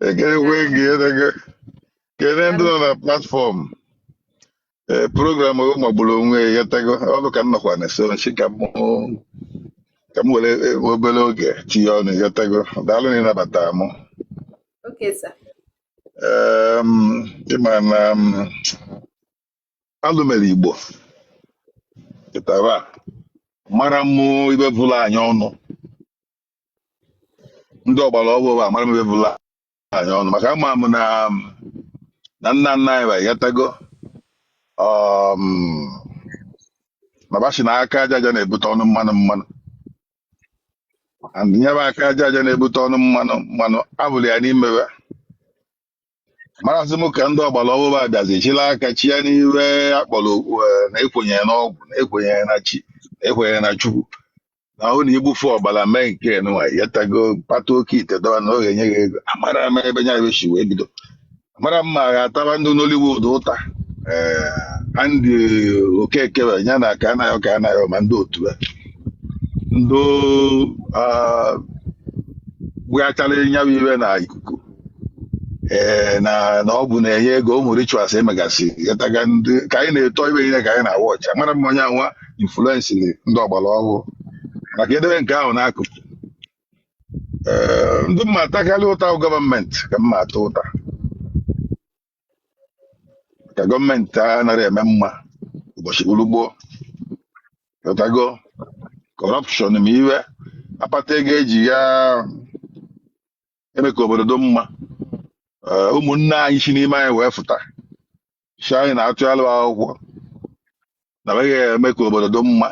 ekelekwe m gị kele ndị nọ na platform ee program magburu onwe ya ị ghọtago ọrụ ka m nọkwa na so m sị ka m were obere oge tinye ọnụ ị ghọtago daalụ na ịnabata m ị ma na alụ mere Igbo kịtaa amara mụ ibe bụla anyị ọnụ ndị ọgbara ọhụrụ a amara m ibe bụla anyị ọnụ maka ama m na na nna nna anyị ha ị ghọtago um, na ba sị na aka aja aja na-ebute ọnụ mmanụ mmanụ and ya bụ aka aja aja na-ebute ọnụ mmanụ mmanụ abụrụ ya n'imewe marazị m ka ndị ọgbara ọhụrụ a bịazi chịla aka tinye n'ibe a kpọrọ ọgwụ eh, na ekwenyere n'ọgwụ na ekwenyere na chi na ekwenyere na chukwu na ahụ na igbufu ọbara mee nke nwa ị ghọtago kpata oke ite dọba na ọ ga-enye gị ego amara m ebe nya ibe si wee bido amara m ma a ga-ataba ndị Nollywood ụta ee Andy Okeke wee ya na Kanayo Kanayo ma ndị otu ya ndị ah, gbughachara nyawa ibe na ikuku ee na na ọgwụ na-enye ego ụmụ rituals emegasị ị ghọtago ndị ka anyị na-eto ibe niile ka anyị na-awatch amara m ma ọ nyanwa influensịrị ndị ọgbara ọhụrụ ma ka e debe nke ahụ n'akụkụ ee ndị m ma-atakarị ụta bụ gọọmenti ka m ma-ata ụta ka gọọmenti anaghị eme mma ụbọchị gburugbo ị ghọtago corruption ma iwe akpata ego eji ya eme ka obodo dị mma Ee, ụmụnne anyị si n'ime anyị wee fụta sị anyị na a tụalụ ba akwụkwọ na ba ga-eme ka obodo dị mma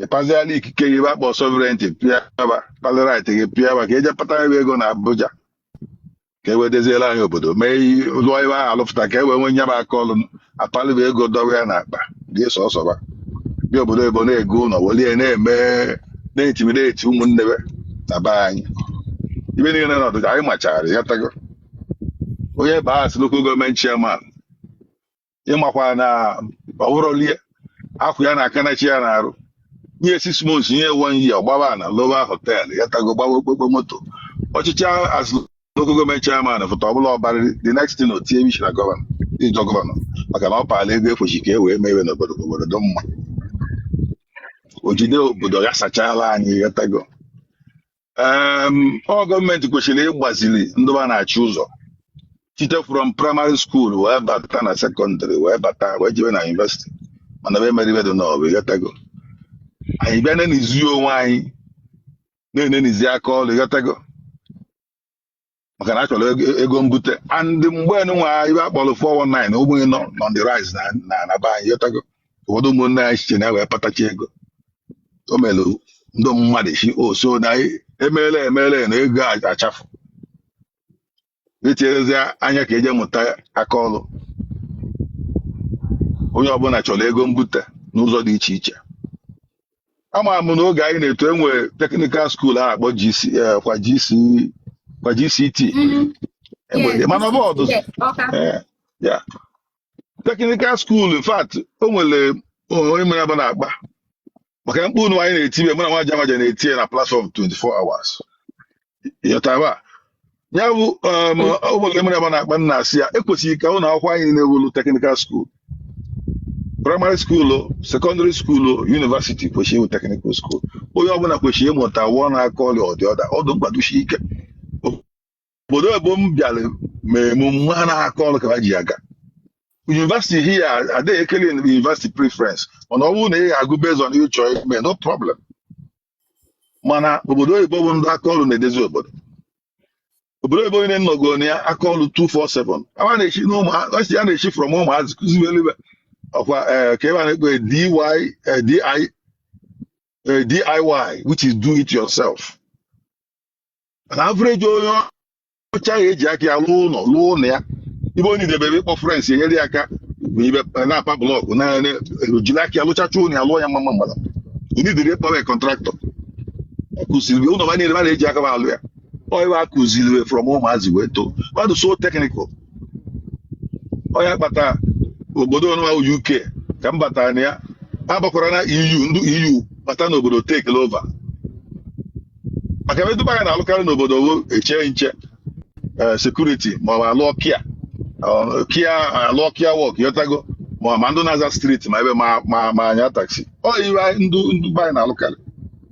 ị paziala ikike gị ba kpọ sovereignty pịa ba palị right gị pịa ba ka e je patabe ego na Abuja ka e wee deziela anyị obodo mee i- lụọ ebe ahụ alụfụta ka e wee nwee nyaba aka ọlụ apalị ba ego dọwa ya n'akpa dị sọsọba bịa obodo oyibo na-ego ụlọ welie na-eme na-intimidate ụmụnne ba na be anyị ibe niile na ọdịda anyị machara ị ghọtago onye baa as local government chairman ị makwa na ọwụrọlie akwụ ya na aka na chi ya na-arụ nye six months nye one year ọ gbaba na-alụwa hotel ị ghọtago gbawa okpokpo moto ọchịchị azụ local gọọmenti chairman fụta ọbụla ọ bara the next thing o tinye isi na gọvanọ ịjọ gọvanọ maka na ọ paala ego e kwesị ka e wee mewe n'obodo ka obodo dị mma o jide obodo ya sachala anyị ịghọtago Em, ọ gọọmenti kwesịrị ịgbaziri ndị ba na-achị ụzọ site from primary school wee bata na sekọndịrị wee bata wee jebe na yunivesiti mana be emeribedo na ọbụ ịghọtago anyị bịa na-enenizi onwe anyị na-enenizi aka ọrụ ịghọtago maka na a chọrọ ego ego mbute and mgbe nwa ibe a kpọrọ 419 ụmụnye nọ nọ on the rise na na na be anyị ịghọtago ụfọdụ ụmụnne anyị site na ya wee patacha ego o mere ndị mmadụ si o so na anyị emeela emeela na ego a- achafụ etinyezi anya ka e je mụta aka ọrụ onye ọbụla chọrọ ego mbute n'ụzọ dị iche iche ama m na oge anyị na-eto enwe teknikal skuul a na-akpọ GC eh, kwa GC kwa GCT Mhm. enwe Yes, mana ọ bụ ọdụzụ yes, Ọka. Eh, ya teknikal skuul in fact o nwere onye mere bụ na-akpa maka mkpu nụwa anyị na-etibe mụ na nwa jamaja na-eti ya na platfọm 24 hours ịghọtago ya bụ um, ụmụnne mere ma na-akpa m na-asị ya e kwesịrị ka ụlọ akwụkwọ anyị na-ewulu teknikal skuul praịmarị skuulu sekọndịrị skuulu yunivasiti kwesịrị ịwụ teknikal skuul onye ọbụla kwesịrị ịmụta one aka ọrụ ọ dị ọ dị ọ dị mkpa dosi ike obodo oyibo m bịara mee m ma na aka ọrụ ka ha ji aga yunivasiti here adịghị ekele yunivasiti preference mana ọ bụrụ na ị ga-agụ based on ị chọ ime no problem mana obodo oyibo bụ ndị aka ọrụ na-edezi obodo obodo oyibo niile nọgo na ya aka ọrụ 247 a na-esi n'ụmụazị a na-esi from ụmụazị kụzibere ibe ọkwa eh, ka ibe a na-akpọ dy eh, di eh, diy which is do it yourself an avreji onye ọcha ga-eji aka ya lụọ ụlọ lụọ ụlọ ya ibe onye debere ịkpọ frens enyere ya aka ma ibe na-apa blọkụ na na- jiri aka ya lụchacha ụlọ ya lụọ ya mma mgbada ndị dịrị ịkpọwa ya kọntraktọ akụziri ụlọ ba niile ba na-eji aka ba alụ ya ọ ibe a kụziri from ụmụazị wee too mmadụ so teknikal ọ ya kpata obodo ọnụwa uk ka m batara na ya abakwara na eu ndị eu bata n'obodo take over maka ibe ndị be anyị na-alụkarị n'obodo wụ eche nche eh, sekuriti ma ọ bụ alụ kia ọ, kia alụ kia wọk ịghọtago ma ọ ma ndị na-aza striti ma ọ bụ ma ma ma anya taksi ọ ibe anyị- ndị ndị be anyị na-alụkarị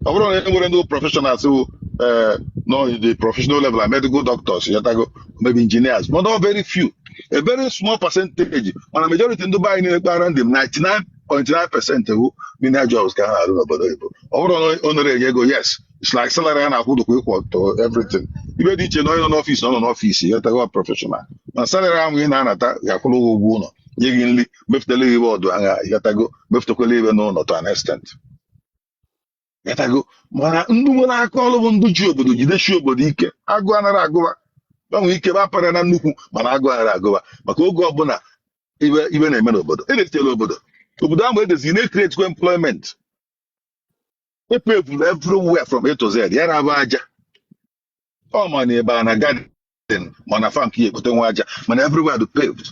ọ bụrụ na e nwere ndị prọfeshọnals who eh, nọ in the professional level are medical doctors ịghọtago maybe engineers but not very few a very small percentage mana majority ndị be anyị na-ekpara ndị m 99.9 percent wụ menial jobs ka ha na-arụ n'obodo oyibo ọ bụrụ na ọ nara enye ego yes it's like salary a na-akwụ dịkwa equal to everything ive dị iche na onye nọ n'ọfịs na ọ nọ n'ọfịs ịghọtago prọfeshọnal na salary ahụ ị na-anata ga-akwụrụ gị ụgwọ ụlọ nye gị nri mefutela gị ive ọdụ agha ịghọtago mefutakwala ive n'ụlọ to an extent ịghọtago mana ndị nwere aka ọrụ bụ ndị ji obodo jidesi obodo ike agụụ anara agụ va va nwee ike va para na nnukwu mana agụụ anara agụ va maka oge ọbụla ive ive na-eme n'obodo edetere obodo obodo a na-edezi na-ekreti employment epevuru everywhere from A to Z ya na abụ aja ọ ma na ebe a na garden ma na farm ka i ye-ekpote nwa aja mana everywhere dị paved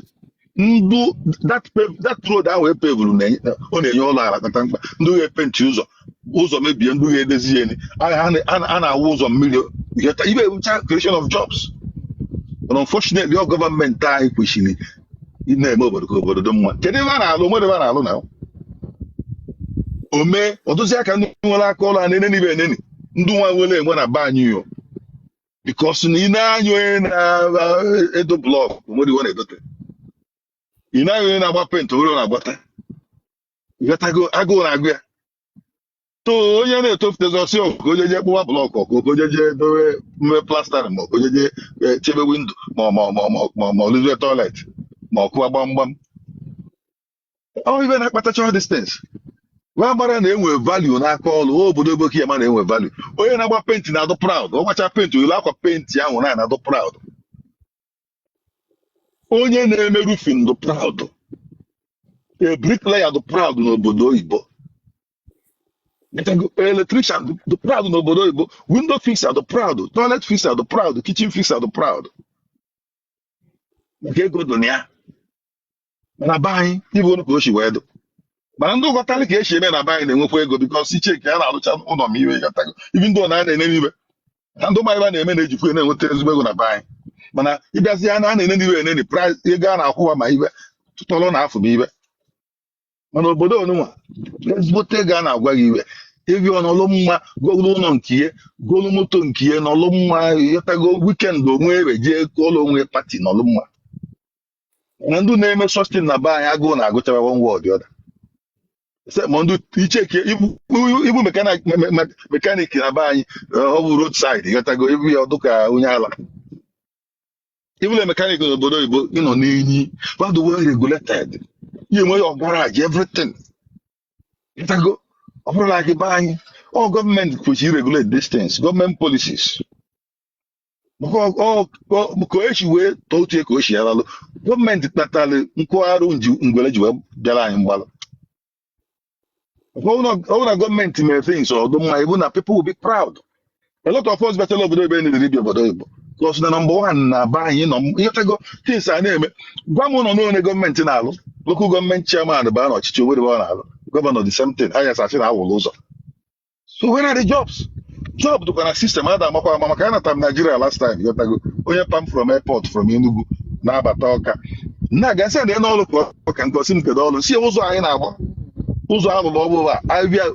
ndụ that pave that road ahụ epevuru na-enye- ọ na-enye ọlụ ala kata mkpa ndị ga-epenti ụzọ ụzọ mebie ndị ga-edezi ya eni. a a na- a na- a na-awụ ụzọ mmiri ihe ta- ive a bụcha creation of jobs but unfortunately ọ gọọmenti anyị kwesịrị ịna-eme obodo ka obodo dị mma kedu ebe a na-alụ o nwere ebe a na-alụ na o mee ọ dụzi ka ndị nwere aka ọlụ a na-eneni va eneni ndị nwa nwere enwe na be anyị yo bikos na i nee anya onye na-edo blọkụ o nwere ive ọ na-edote i nee anya onye na-agba penti o nwere ọ na-agbata ịghọtago agụụ na-agụ ya so onye na-etofutezi ọ sị ọ ka onye je kpụwa blọkụ ọ ka onye je dowe mee plastara ma ọ bụ onye je eh, chebe windo ma ma ma ma ma ma ọ lụzie tọilet ma ọ kụwa gbamgbam ọ ive na-akpatacha these things wee mara na enwe value n'aka ọlụ o obodo ebe oke ya ma na-enwe value onye na-agba penti na-adụ proud ọ gbacha penti o yiri akwa penti ahụ na na-adụ proud onye na-eme rufin dị proud a bricklayer dị proud n'obodo oyibo ịghọtago, electrician dị- dị proud n'obodo oyibo window fixer dị proud toilet fixer dị proud kitchen fixer dị proud maka ego dị na ya mana be anyị ive olu ka o si wee dụ mana ndị ghọtalị ka e si eme na be anyị na-enwekwa ego bikọs i chee ka a na-arụcha ụlọ ma ive ịghọtago ive ndị ụlọ a na-eneni ve na ndị mmadụ a na-eme na-ejikwa ya na-enweta ezigbo ego na be anyị mana ị bịazi ya na a na-eneni ve eneni praịs ego a na-akwụ va ma ive tụtọrọ na afụ bụ ive mana obodo onụnwa ezigbote ego a na-agwa gị i wee bịa nọlụ mma golu ụlọ nke ihe golu moto nke ihe nọlụ mma ịghọtago wikend onwe ebe jee kụọlụ onwe pati nọlụ mma na ndị na-eme such thing na be anyị agụụ na-agụcha va one way or the other ma ndị i cheki ịbụ mekanik na be anyị ọ bụ road side ịghọtago ị vụ ya ọ dụ ka onye ala ị bụlụ mekanik n'obodo oyibo ị na-eyi mmadụ well regulated ị ya-enwe your garage everything ịghọtago ọ bụrụ na gị be anyị ọ gọọmenti kwesịrị regulate these things gọọmenti policies ka o si wee tọọ uche ka o si yaralụ gọọmenti kpatara nkwagharụ ngwere ji wee bịara anyị mgbalụ ọ wụ na gọọmenti mere things ọ dụ mma ị fụ na people will be proud a lot of us bịachala obodo ebe nidere ibi obodo oyibo cos na number one na be anyị nọ ịghọtago things a na-eme gwa m ụlọ n'one gọọmenti na-alụ local gọọmenti chairman baa n'ọchịchị o nwerọ ọ na-alụ gọvanọ the same thing anyị asị na awụlụ ụzọ so where are the jobs job dịkwa na system a da-amakwa ama maka anata m Nigeria last time ịghọtago onye pa m from airport from Enugu na-abata Ọka nna ga sị na ya n'ọrụ ka ọ ka nke ọ sị m kedu ọrụ si ya ụzọ anyị na-agba ụzọ alụrụ ọbụla abịa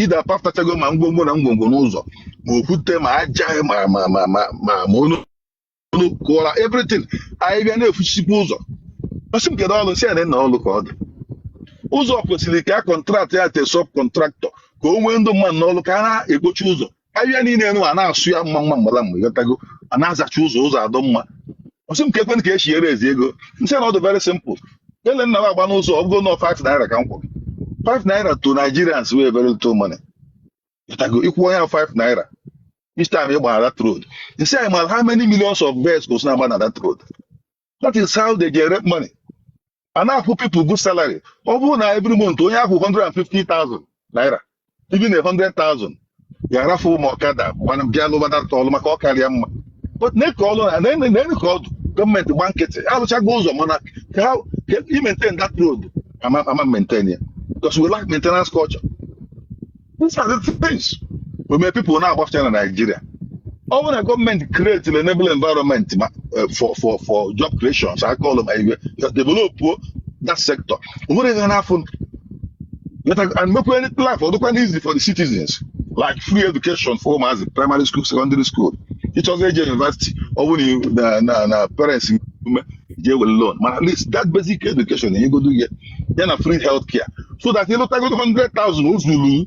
ide apafutachago ma ngwongwo na ngwongwo n'ụzọ ma okwute ma aja ma onu unu kụwara everything afịfịa na-efuchisikwa ụzọ ọ sị m kedu ọrụ si na ọrụ ka ọ dị ụzọ kwesịrị ka a contractie ya to sub contractor ka o wee ndị mmadụ n'ọrụ ka a na-ekpocha ụzọ ahịhịa niile nụ a na-asụ ya mma mma mgbara mgbe ịghọtago a na-azacha ụzọ ụzọ adị mma ọ sị m keekwa ka esi enwezi ego m sị na ọ dị very simple ele na m agba n'ụzọ ọ bụgodu 5 naira ka m kwụrụ 5 naira to Nigerians wụ very little money ịghọtago ị kwụọ ya 5 naira each time ị gbara that road m sị ya ị mara how many millions of vehicles na-agba na that road that is how they generate money a na-akwụ people good salary ọ bụrụ na every month onye a kwụọ 150,000 naira even a 100,000 ya arafụ ụmụ ọkada gbana bịa lụba that ọlụ maka ọ kara ya mma but na-eke ọlụ na na- na-eke ka ọ dụ gọọmenti gba nkịtị alụchago ụzọ mana ka ha ka i maintain that road ama ama maintain ya because we lack maintenance culture These are the things we may people now about China Nigeria. Ọ bụrụ na gọọmenti create an enable environment ma, eh, for for for job creation, so I call them eh, develop that sector. O nwere ihe na-afụ Let us- and make any life or local easy for the citizens, like free education for as primary school, secondary school. It was age university, or when you na na na parents jee were loan mana at least that basic education enyegodu gị ya na free health care so that ị lụtagodu 100,000 o zuru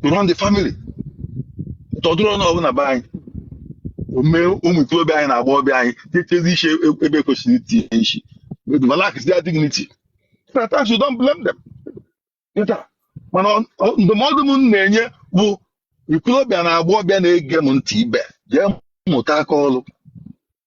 to run the family but ọ dụrọnụ na be anyị o mee ụmụ ikorobịa anyị na agbọghọbịa anyị tinyechazi isi ebe ekwesịrọ itinye isi with relax their dignity so at times you don't blame them ịghọtago, mana ọ- ọ- ndụmọdụ m na-enye bụ ikorobịa na agbọghọbịa na-ege m ntị ibe jee mụta aka ọrụ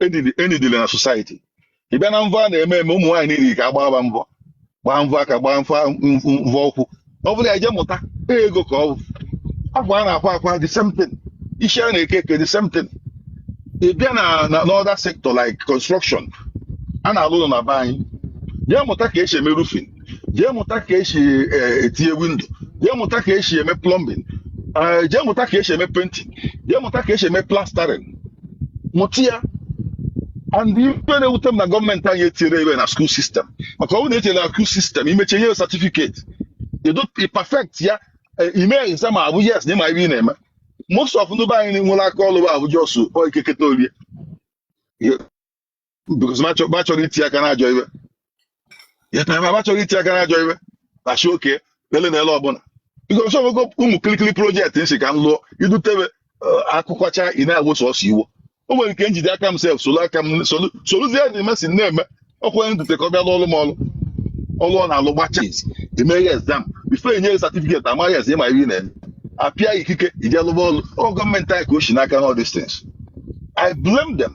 e needi e needili na society ị bịa na mvọ a na-eme eme ụmụ nwaanyị niile ka a gbaa mvọ gbaa mvọ aka gbaa mfa mvọ ụkwụ ọ bụla jee mụta ego ka ọ bụ akwa a na-akwa akwa the same thing isi a na-eke eke the same thing ị bịa na na n'other sector like construction a na-alụ ụnọ na be anyị jee mụta ka esi eme roofing jee mụta ka esi eh, etinye window jee mụta ka esi eme plumbing eh, jee mụta ka esi eme painting jee mụta ka esi eme plastering mụta ya and ife na-ewute m na gọọmenti anyị etinyerọ ife a na school system maka ọ bụrụ na etinyere na school system i mechaa e nye certificate ị dị perfect ya eh, i mee exam a fụ yes na ị ma ife ị na-eme most of ndị be anyị nwere aka ọlụ bụ abụ just o keketa o rie because ma chọ- ma chọrọ iti aka n'ajọ ife ya na ma chọrọ iti aka n'ajọ ife na shi oke lele na ele ọbụla because so ogo ụmụ kirikiri project m sị ka m lụọ idutebe akụkọcha ị na-awụsa ọsọ iwo o nwere ike njide aka m sef solu aka m solu soluzie the mess ị na-eme ọkwa onye dute ka ọ bịa lụọ ọrụ m ọrụ ọrụ ọ na-alụ gbacha e mee gị exam before e nye gị certificate a ma yes ị ma ihe ị na-eme apịa ikike ije lụba ọrụ ọ gọọmenti anyị ka o si n'aka na all these things I blame them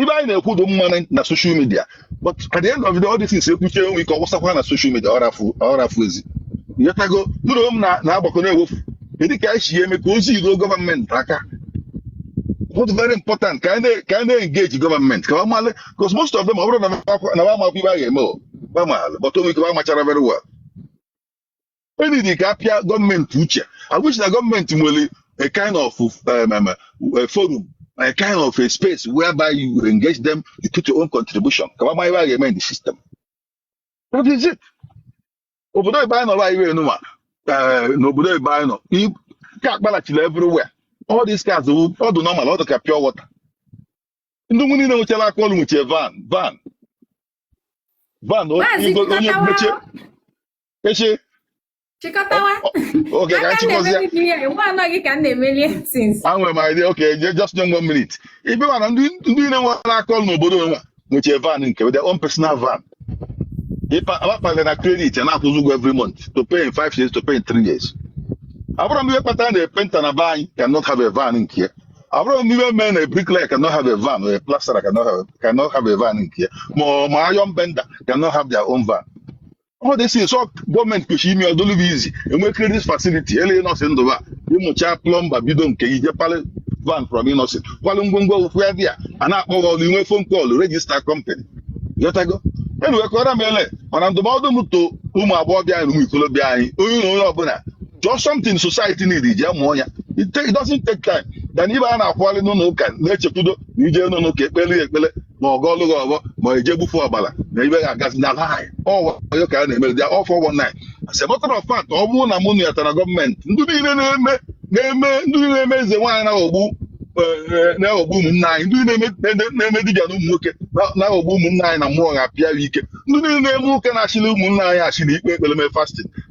ife anyị na-ekwu dị mma na social media but at the end of the day all these things e kwuchie o nwe ike ọ wụsakwa na social media ọrafụ ezi ị ghọtago dụrụ m na-agbakọ na-ewefu kedu ka anyị si eme ka ozi ruo gọọmenti aka what's very important ka anyị na-engage gọọmenti ka ọmalị because most of them ọ bụrọ na fa amakwa ife a ga-eme o fa malụ but o nwe ike amachara very well e need ka a pịa gọọmenti uche I wish na gọọmenti nwere a kind of um, um, a forum a kind of a space whereby you engage them you put your own contribution ka fa ma ife a ga-eme in the system that is it obodo ebe anyị nọrọ anyị wee nụwa eh, n'obodo ebe anyị nọ i- ka akpalachila everywhere all these cars wụ- ọ dị normal ọ dị ka pure water ndị nwunye niile nwechara aka ọrụ nwechie van van van o- maazị igo- onye mechie kọtawa echi chịkọtawa oge ka nchịkọzie anaghị ka m na-emeli things enwe m idea okay just nye m one minute ife mana ndị ndị na-enwere aka ọrụ n'obodo onwe nwechie van nke their own personal van akpakpagara na credit a na-akwụzi ụgwọ every month to pay in five years to pay in three years afụrọ m ihe kpatara na painter na be anyị cannot have a van nke ya afụrọ m ihe mere na bricklayer cannot have a van or a plasterer cannot have a van nke ya ma ma iron bender cannot have their own van all these things ọ gọọmenti kwesịrị ime ọ dụlụ fa easy e nwee credit facility eleghị nọsị ndụba ị mụcha plumber bido nke gị je palị van from Innoson kwalụ ngwongwo ụkwụ ya bịa a na-akpọ gị ọrụ i nwee phone call register company ghọtago enuwekọrọ m ele mana ndụmọdụ m to ụmụ agbọghọbịa anyị na ụmụ ikolobịa anyị onye na onye ọbụla jụọ something society need jee mụọ ya it take- it doesn't take time than ịbịa na-akwụgharị n'ụlọ ụka na-echekwudo na ije n'ụlọ ụka ekpele ya ekpele ma a gọlụ gị ọfọ ma ọ eje gbufu ọbara na ife ga-agazi na lie ọ wayo ka a na-eme they are all four one nine as a matter of fact ọ bụrụ na mụ nyetara gọọmenti ndị niile na-eme na-eme ndị niile na-eme eze nwaanyị na-aghọgbu eh, na-aghọgbu ụmụnne anyị ndị niile na-eme- na-eme dibịa na ụmụ nwoke na- na-aghọgbu ụmụnne anyị na mụ ga-apịa ya ike ndị niile na-eme ụka na-ashịlị ụmụnne anyị ashị na i kpee ekpere mee fasting